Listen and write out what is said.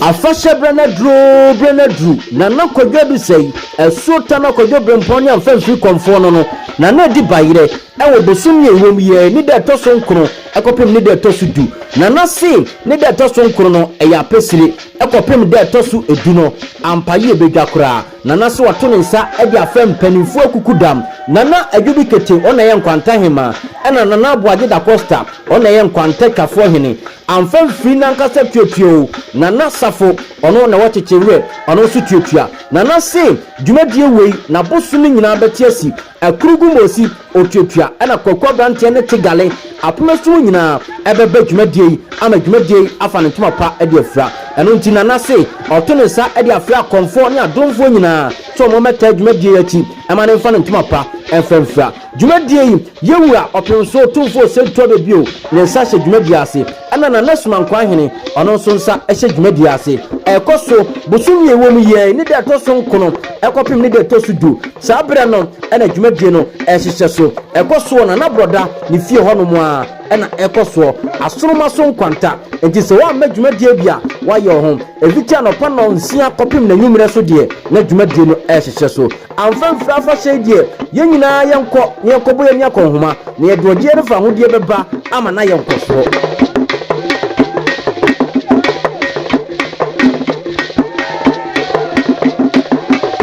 Afahyɛberɛ no aduro, berɛ no aduru, Nana Kwadwo Adusɛe, Asuo Tana Kwadwo Brempɔn ne Amfamfiri Kɔmfoɔ no no, Nana Adi Bayerɛ, wɔ bosom yi a yɛwɔ mu yi ara, ne da a ɛtɔ so nkron kɔpem ne da a ɛtɔ so du. Nana se ne da a ɛtɔ so nkron no, ɛyɛ Apesire kɔpem da a ɛtɔ so du no, ampa yie bɛdwa koraa. Nana so ato ne nsa de afrɛ mpaninfoɔ akukudam, Nana Adwobi Kete, ɔna yɛ Nkwanta Hemaa, ɛna Nana Aboagye Dacosta, ɔna yɛ Nkwanta Twafoɔ Hene. Amfa mfiri nankasa tuatua o, Nana Safo, ɔno na wɔkyekye werɛ, ɔno nso tuatua. Nana se dwumadie wei, n'abosome nyinaa bɛte asi. Ɛkoro gu Mosi, Otuatua, ɛna Kwaku Abranteɛ ne Tigale, Apomasum nyinaa ɛbɛba dwumadie yi ama dwumadie yi afa ne ntoma pa de afira. Ɛno nti Nana se ɔto ne nsa de afrɛ akɔmfoɔ ne adomfoɔ nyinaa sɛ wɔn mmɛtaa dwumadie yi akyi ɛma no mfa ne ntoma pa ɛmfa mfira dwumadie yi. Yawura Ɔpemsoɔ Tumfoɔ Osei Tuabɛ bio ne nsa hyɛ dwumadie ase. Ɛna Nana Sumankwaa Hene, ɔno nso nsa hyɛ dwumadie ase. Ɛkɔ so bosome a ɛwɔ mu yi ara, ne da a ɛtɔ so nkono kɔpem ne da a ɛtɔ so du. Saa berɛ no na dwumadie no hyehyɛ so. Ɛkɔ soɔ Nana Brɔda ne fie hɔ nom ara na ɛkɔ soɔ. Asoroma so nkwanta nti sɛ woammɛ dwumadie bi a, woayɛ wo ho. Ɛfiti anɔpa nnɔnsia kɔpem n'anwummerɛ so deɛ, na dwumadie no hyehyɛ so. Amfa mfiri afahyɛ yi deɛ, yɛn nyinaa yɛnkɔ na yɛnkɔbɔ yɛn ani akɔnhoma, na yɛde ɔgyeɛ no fahodeɛ bɛba ama no ayɛ nkɔsoɔ.